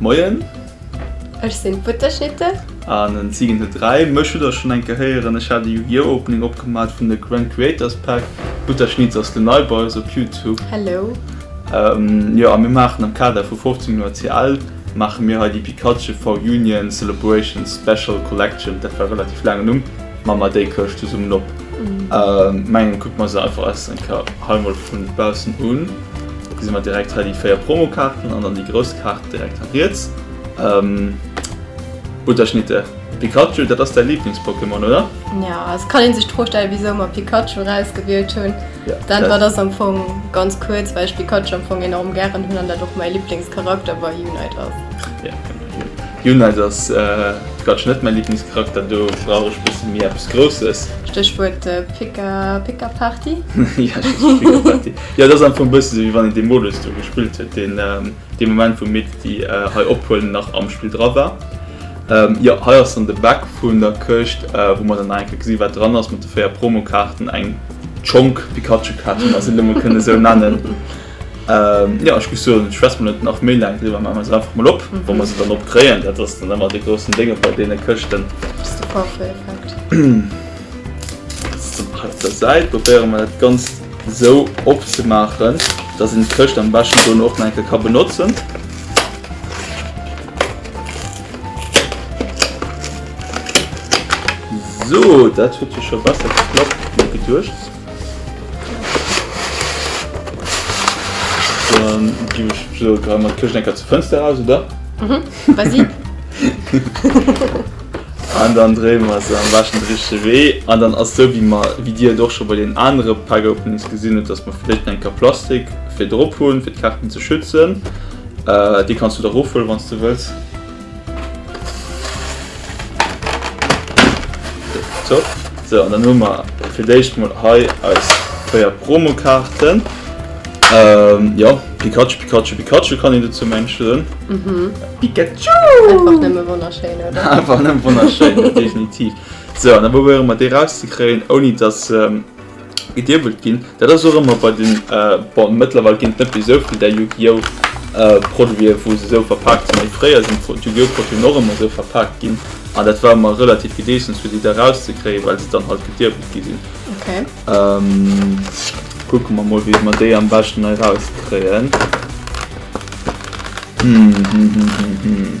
Moien. Ech sinn d'Butterschnitte. An en Zigen huet 3. Mech hutt der schonn eng Kéier héieren. Ech hat e Yu-Gi-Oh! Opening opgemat vun der Grand Creators Pack. D'Butterschnitz ass de Nei bei eis op Youtube. Hello. Jo, a mir maachen am Kader vu 15 Joer CL, maache mir hei déi Pikachu V-Union Celebration Special Collection, dat war e relativ laangen Numm, ma mer déi Këscht zesummen op. Mengen kucke mer se einfach eis eng Kéier hei mol vun baussen un. Gesi mer direkt hei déi 4 Promokaarten an dann déi grouss Kaart direkt hei riets. Butterschnitte, Pikachu, dat ass däi Liiblings-Pokémon, oder? Jo, et kann ee sech d'Fro stellen, wisou mer Pikachu erausgewielt hunn. D'Äntwert ass am Fong ganz kuerz, well ech Pikachu am Fong enorm gären hunn an dat och mäi Liiblingscharakter bei Unite ass. Jo, Unite ass quatsch net mäi Liiblingscharakter, do brauch ech e bësse méi eppes Grousses. Stéchwuert Pika-Pika-Party. Jo, Stéchwuert Pika-Pika-Party. Jo, et ass am Fong bësse sou, wéi wann een dee Modus do gespillt huet, deen dee Moment, wou mir déi hei ophuelen, nach am Spill dra war. Jo, hei ass dann de Back vun der Këscht, wou mer dann nach eng Kéier gesi wat dran ass, mat de véier Promokaarten, eng Schonk Pikachu-Kaart, wann mer se elo mol kënne sou nennen. Jo, ech muss soen, ech schwätze mol net nach méi laang driwwer, maache mer se einfach mol op, wa mer se dann opkréien. Dat ass dann ëmmer dee groussen Déng op all deene Këschten. Just de Porto-Effekt. Op der Säit probéiere mer dat Ganzt esou opzemaachen, dass een d'Këscht am beschten dono och nach eng Kéier ka benotzen. Sou, dat huet jo scho besser geklappt wéi geduecht. Dann ginn ech, sou, grad emol d'Këscht eng Kéier zur Fënster eraus, oder? Vas-y. An dann dréie mer se am beschten de richtege Wee an dann ass esou wéi mer, wéi Dir et och scho bei deenen anere Pack-Openings gesinn hutt, dass mer vläicht nach eng Kapp Plastik fir drop hunn, fir d'Kaarten ze schützen. Déi kanns du da erofhuelen, wann s du wëlls. Top. Sou, an dann hu mer fir d'éischt mol hei eis 4 Promokaarten. Jo, Pikachu, Pikachu, Pikachu kann een dozou mengen, soen. Pikachu! Einfach nëmme wonnerschéin, oder? Einfach nëmme wonnerschéin, definitiv. Sou, an da probéiere mer déi rauszekréien, ouni dass se geduebelt ginn. Dat ass och ëmmer bei den, bon mëttlerweil ginn et net méi esou vill där Yu-Gi-Oh! Produiten, wou se esou verpaakt sinn, mee fréier sinn d'Yu-Gi-Oh! Produiten och ëmmer esou verpaakt ginn an dat war ëmmer relativ Gedeessems fir déi da rauszekréien, well se dann halt gedirwelt gi sinn. Kucke mer mol wéi mer déi am beschten hei rauskréien. Hm, hm, hm, hm, hm.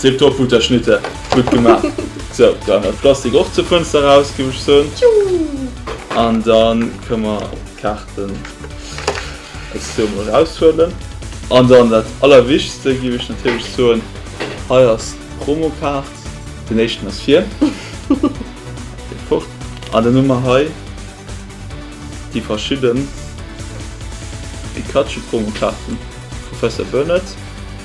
Tip top Uta Schnitter, gutt gemaach. Sou, dann dat Plastik och zur Fënster raus, géif ech soen. An dann kënne mer d'Kaarten aus do emol raushuelen. An dann dat Allerwichtigste, géif ech natierlech soen, hei ass d'Promokaart. Den éischten ass vir. Dee fort. An dann hu mer hei déi verschidden Pikachu-Promokaarten. Professor Burnett.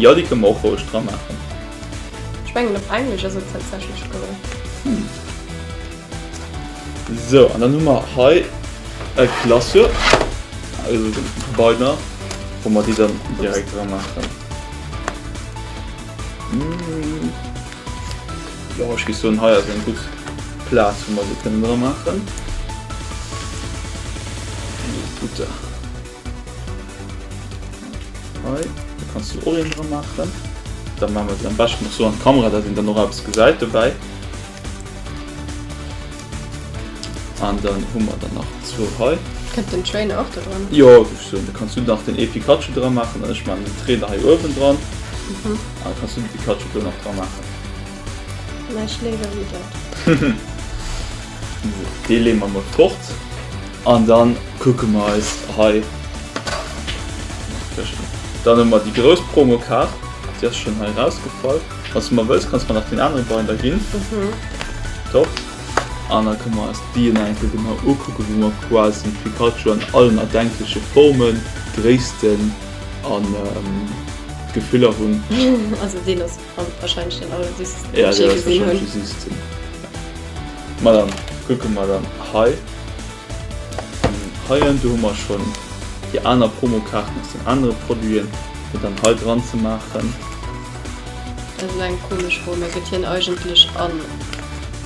Jo, déi kënne mer och roueg dra maachen. Ech mengen op Englesch ass et tatsächlech dran. Hm. Sou, an dann hu mer hei e Glaceur, also den Binder, wou mer déi dann direkt dra maachen. Jo, ech géif soen, hei ass eng gutt Plaz, wou mer se kënnen dra maachen. Super. Hei, da kannst du och een dran machen. Dann machen wir am besten noch so an die Kamera, dass ihn dann noch etwas geseit dabei. Und dann haben wir dann noch zwei hei. Könnt den Train auch da dran? Ja, ich so, da kannst du noch den e Pikachu dran machen und ich mache den Train da hei oben dran. Mhm. Und dann kannst du den Pikachu da noch dran machen. Nein, ich lebe wieder. Dee leeë mer mat fort an dann kucke mer eis hei, dann hu mer déi grouss Promokaart, déi ass schonn hei erausgefall. Wann s du mar wëlls, kanns du mer nach deen anere Binder ginn. Top. An da kënne mer eis d'Diën nach eng Kéier genau ukucken, wou mer quasi de Pikachu an allen erdenkleche Formen, Gréissten a Gefiller hunn. An wahrscheinlech den aller Dys. Ja, dee ass wahrscheinlech de System. Ma dann kucke mer dann hei. An heien, do hu mer schonn déi aner Promokaarten aus den anere Produiten, fir dann hei dran ze maachen. Dat ass elo eng komesch Form. Mä gëtt hien eigentlech an.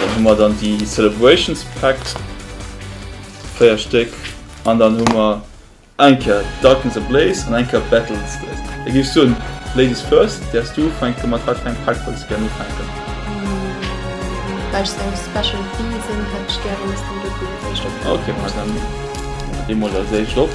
Dann hu mer dann déi Celebrations Packs, 4 Stéck. An dann hu mer eng Kéier Darkness Ablaze an eng Kéier Battle Its Death. Da géif ech soen, Ladies first, däers du ufänken, mat wat fir engem Pack wëlls de gären ufänken? Well ech esou special bee sinn, hätt ech gären, dass de Luke als éischt opfänks. Ok, ma dann maache de mol als éischt op.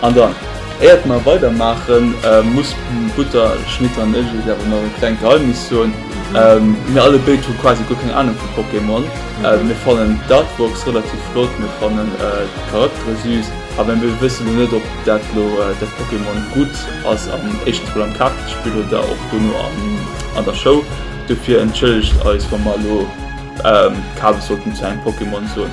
An dann, éiert mer weider maachen, muss Butterschnitter an ech iech awer nach e klengt Geheimnis soen, Mir alle béid hu quasi guer keng Ahnung vu Pokémon. Mir fannen d'Artworks relativ flott, mir fannen d'Charaktere süß, awer mir wëssen elo net ob dat lo dat Pokémon gutt ass, am éischtens mol am Kaartespill oder och dono an der Show. Dofir entschëllegt eis wa mer elo Kabes sollten zu engem Pokémon soen.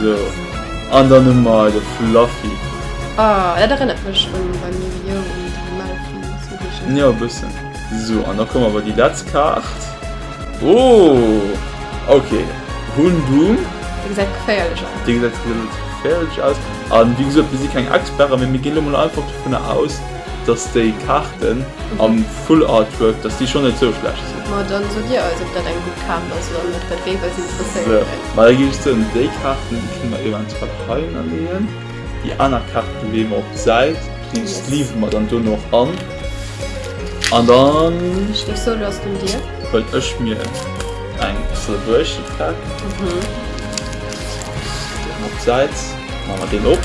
So, an dann hu mer de Fluffy. Ah, dat erënnert mech un beim Yu-Gi-Oh! un déi Malfi Zooheeschen. Jo, e bëssen. So, an da komm awer déi letz Kaart. Oh, ok, Houndoom. Dee gesäit geféierlech aus. Dee gesäit relativ geféierlech aus. A wéi gesot, mir si keng Experten, mee mir ginn elo mol einfach dovunner aus, dass déi Kaarten am Full Artwork, dass déi schonn net sou schlecht sinn. Ma dann sot dir eis op dat eng gutt Kaart ass oder net, dat géif eis interesséieren. Sou, ma da géif ech soen, déi Kaarten déi kënne mer eventuell heihinner leeën, déi aner Kaarten leeë mer op d'Säit, déi sleeven mer dann dono och an an dann. Ech géif soen, lo ass et un dir. Huelen ech mir eng Celebration Pack, leeë mer op d'Säit, maache mer deen op.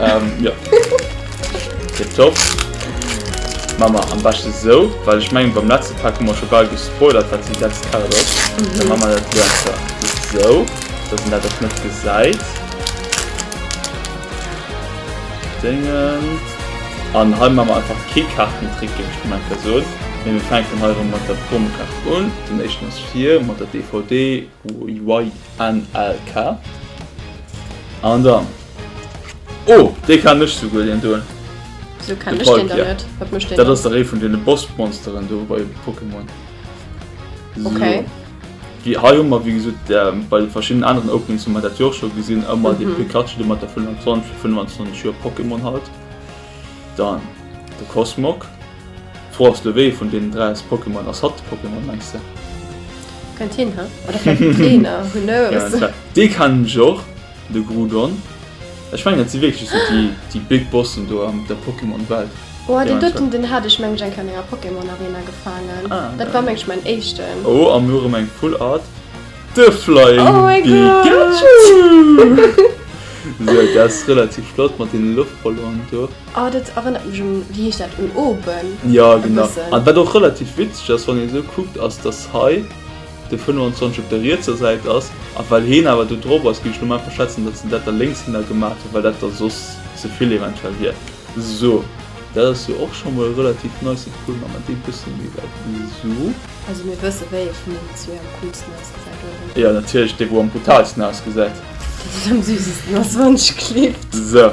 Ähm, jo. Tip top. Maa mer am beschten esou, well ech mengen beim letzten Pack hu mer scho bal gespoilert wat déi sechst Karte ass. Da man mer dat elo einfach esou, dass een dat och net gesait. Dingens. An hei man mer einfach kee Kartentrick géif ech gemengt esou. Mee mir fänken hei erem mat der Promo-Kart un. Den éischten ass vir mat der DVD. YNLK an dann oh dee kann ech souguer deen do, Wéso kenn ech deen dann net? Wat mécht deen dann? Dat ass dach ee vun deene Bossmonsteren do bei Pokémon. Okay. Sou wéi hei hu mer wéi gesot bei de verschiddenen aneren Openings hu mer dat jo och scho gesinn, ëmmer dee Pikachu do mat der 25 vu 25 Joer Pokémon halt, dann de Cosmog. D'Fro ass lo wéi vun deenen 3 ass Pokémon? Ass hatt de Pokémon mengs de? Kënnt hin, he? Oder vläicht den Trainer, who knows? Dee kennen ech och, de Groudon. Ech mengen dat si wierklech esou déi déi big Bossen do an der Pokémon Welt. Oh deen doten deen hat ech meng ech eng Kéier an enger Pokémon Arena gefaangen. Dat war meng ech mäin éischten. Oh a mir hu rëm eng Full Art, de Flying Pikachu! Esou dat ass relativ flott mat deene Loftballonen do. Ah, dat erënnert mech un, wéi heescht dat, un Oben Ja, e genau. bëssen. An wat och relativ witzeg ass, wann ee esou kuckt, ass, dass hei de 25 op der rietser Säit ass. A well heen awer do drop ass, géif ech lo mol einfach schätzen, dass se dat da lénks hinner gemaach hunn, well dat da soss ze vill eventuell wier. Sou. Dat ass jo och scho mol e relativ nice Pull, ma mer dee bësse méi wäit esou. Also mir wësse wéi ee vun deenen zwee am coolsten ausgesäit, oder? Jo, natierlech dee, wou am brutaalsten ausgesäit. Deen, deen am süßesten ass, wann ech klippt. Sou.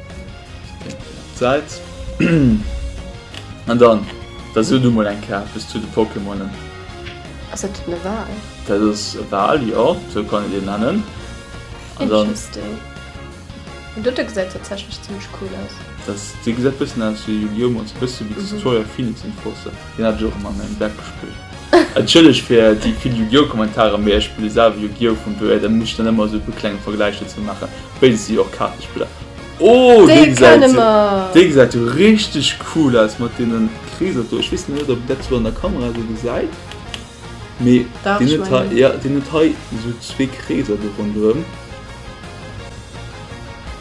Säit. An dann, da so du mol eng Kaart bis zu de Pokémonen. Ass dat den Oval? Dat ass e Wal, jo, sou kann een deen nennen. An dann. Interesting. Den dote gesäit tatsächlech zimmlech cool aus. Dat, dee gesäit bëssen aus wéi Yu-Gi-Oh! Mol sou bësse wéi de Tutorial Phoenix Enforcer. Deen hat ech och ëmmer an engem Deck gespillt. Entschëllegt fir déi vill Yu-Gi-Oh! Kommentarer, mee ech spille selwer Yu-Gi-Oh! Vun dohier, da muss ech dann ëmmer sou e puer klenge Vergläich dozou maachen. Béid si och Kaartespiller. Oh, dee gesäit jo richteg cool aus mat deene Kreeser do. Ech weess net, ob een dat sou an der Kamera esou gesäit. Mee deen huet hei, jo, deen huet hei esou zwee Kreeser do ronderëm.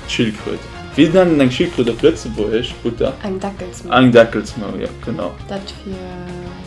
D'Schildkröt. Wéi nennt een eng Schildkröt op Lëtzebuergesch, Butter? Eng Deckelsmau. Eng Deckelsmau, jo, genau. Dat fir.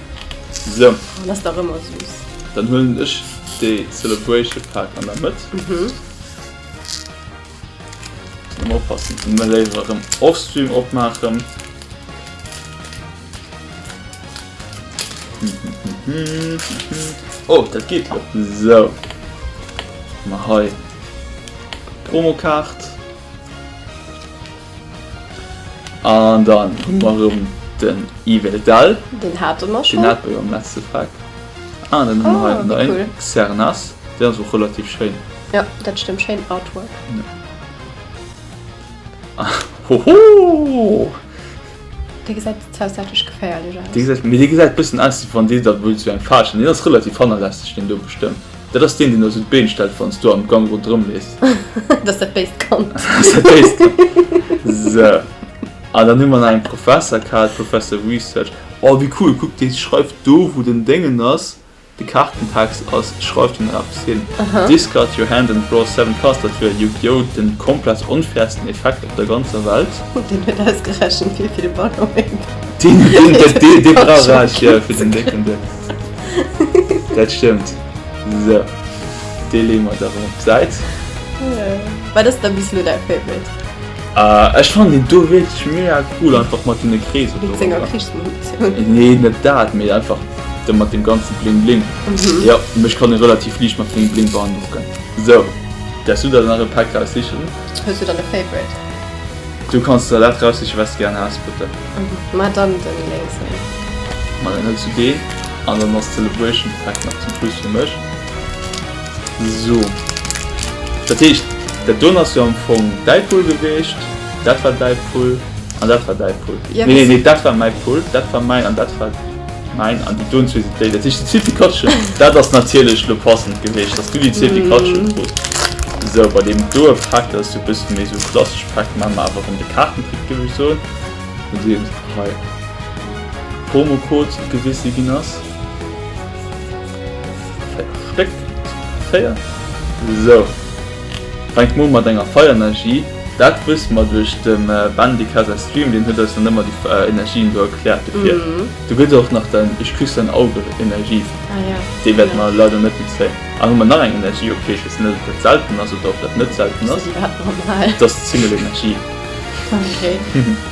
So. Oh, das dach ëmmer süß. Dann huelen ech dee Celebration Pack an der Mëtt. Mhm. Ëmmer oppassen, ëmmer léiwer erëm offstream opmaachen. Oh, dat geet jo. So. Hu mer hei d'Promokaart. An dann hun mer rem den Yves Eldal. Den hate mer schon. Den hate mer jo am letzte Frack. Ah, an dann hun mer hei nach een Xernas. Deen ass och relativ schéin. Jo, dat stëmmt. Schéin Artwork. Hoho! Dee gesäit zwar saatlech geféierlech aus. Dee gesäit, mee dee gesäit bëssen aus wéi wann deen dat wëllt esou eng Faarch hunn. Deen ass relativ hannerlässeg deen do bestëmmt. Dat ass deen deen da sou d'Been stellt wann s du am Gang ronderëm leefs. Dat ass dat béist Kand. Dat ass dat béist Kand. Sou. An dann hu mer nach eng Professer gehat, Professor Research. Oh wéi cool, kuck déi schreift do wou den Déngen ass, De Kaartentext ass Schreif den Raps hin, discard your hand and draw seven cards, dat wier Yu-Gi-Oh! den komplett onfairsten Effekt op der ganzer Welt. Oh, deen huet ausgerechent wéi vill Ballonen. Deen huet deen dee brauch ech jo fir den décken Dënns. Dat stëmmt. Sou, dee leeë mer da rëm op d'Säit. Wat ass da bis elo däi Favorite? Ech fannen deen do wierklech mega cool, einfach mat deene Kreeser do. Wéinst senger Krichsmunitioun? Nee, net dat, mee einfach de mat deem ganze Bling Bling. Jo, mech kann e relativ liicht mat Bling Bling beandrocken. Sou, däerfs du der nach e Päck raussichen. Hues du dann e Favorite? Du kanns der dat raussichen, wat s du gären häss, bitte. Ma dann den lénksen. Ma dann huels du deen, an dann ass d'Celebration Pack nach zum Schluss fir mech. So. Dat heescht, dat doen ass jo am Fong däi Pull geweecht, dat war däi Pull an dat war däi Pull. Nee, nee, nee, dat war mäi Pull, dat war mäin an dat war mäin an déi doen zwee sinn déi. Dat heescht, déi zweet Katche, dat ass natierlech elo passend geweecht, dass du déi zweet Katche krus. So, bei deem doe Pak, dat ass jo e bësse méi esou e klassescht Pak, mä mer awer erëm de Kaartentrick, géif ech soen. Nodeems hei d'Promocode gewise ginn ass. Stéck. Féier. So. Fänkt mol mat enger Feierenergie. Dat wësse mer duerch dem Bandika säi Stream, deen huet eis dann ëmmer déi Energien do erkläert dofir. Do gëtt och nach den Ech küss dein Auge Energie. Déi wäerte mer leider net nuzéien. An hu mer nach eng Energie, ok, ech wëssen net ob dat selten ass oder ob dat net selten ass. Dass Zingelenergie.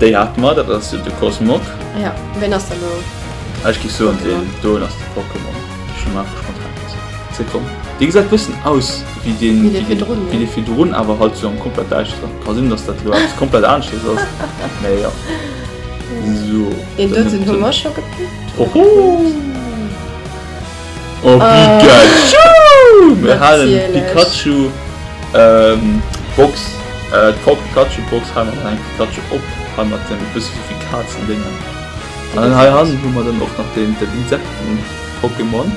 Déi haten mer, dat ass jo de Cosmog. Ja, ween ass dann elo? Ech géif soen deen doen ass de Pokémon. Ech hunn einfach spontan gesot. Ze komm. Dee gesäit e bëssen aus wéi deen, Wéi dee virdrun, wéi jo. dee virdrun, awer halt zu engem komplett däischteren. Ka sinn, datt dat elo eppes komplett aneschtes ass, mä jo. Sou, Deen dann doten hu huet mer scho gepickt. Hoho! Oh Pikachu! Mir halen d'Pikachu Box, d'Popp Pikachu Box halen mer eng Pikachu op, hei mat dem e bësse souvill Kazen Déngen. An dann hei hannen hu mer dann och nach den Insekten Pokémon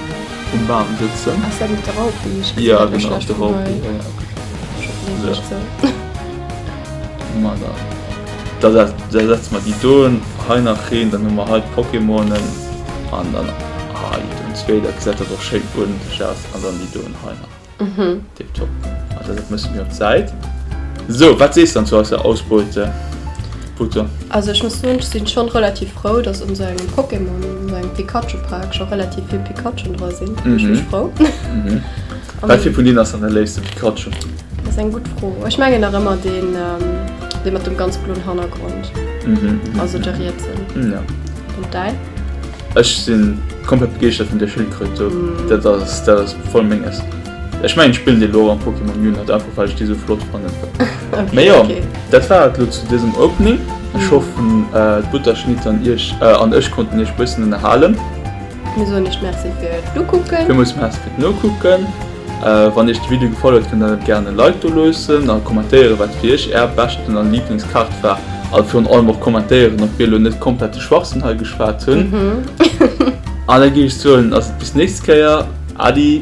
um Bam sëtzen. Ass dat net de Raupi? Jo genau, ass de Raupi. Da setzen mer déi dohin, hei nach een, dann hun mer hei d'Pokémonen an dann hei den zweet, dat gesäit dann och schéin uerdentlech aus, an dann déi dohin hei nach. Tiptop. Also dat mussen mir op d'Säit. Sou, wat sees de dann zu eisser Ausbeute, Butter? Also ech muss soen, ech sin schon relativ frou, dass un sou engem Pokémon, un sou engem Pikachu-Pack schon relativ vill Pikachen dra sin. Mech mech frou. Wat fir vun deenen ass dann däi léifsten Pikachu? Dat ass eng gutt Fro. Ech mengen nach ëmmer deen, dee mat dem ganz bloen Hannergrond, also de rietsen. An däin? Ech si komplett begeeschtert vun där Schildkröt do. Dat ass, dat ass voll menges. Ech mengen, ech spillen déi elo am Pokémon Unite, einfach well ech déi esou flott fannen. Mee jo, dat war et elo zu dësem Opening. Ech hoffen, d'Butterschnitt an iech, an ech konnten iech e bëssen ënnerhalen. Mir soen iech Merci fir d'Nokucken. Villmools Merci fir d'Nokucken. Wann iech de Video gefall huet kënnt der gären e Like do loossen a kommentéieren wat fir iech är beschten a Liiblings Kaart war a virun allem och kommentéieren ob mir elo net komplette Schwachsënn hei geschwat hunn an da géif ech soen ass et bis nächst Kéier Adi!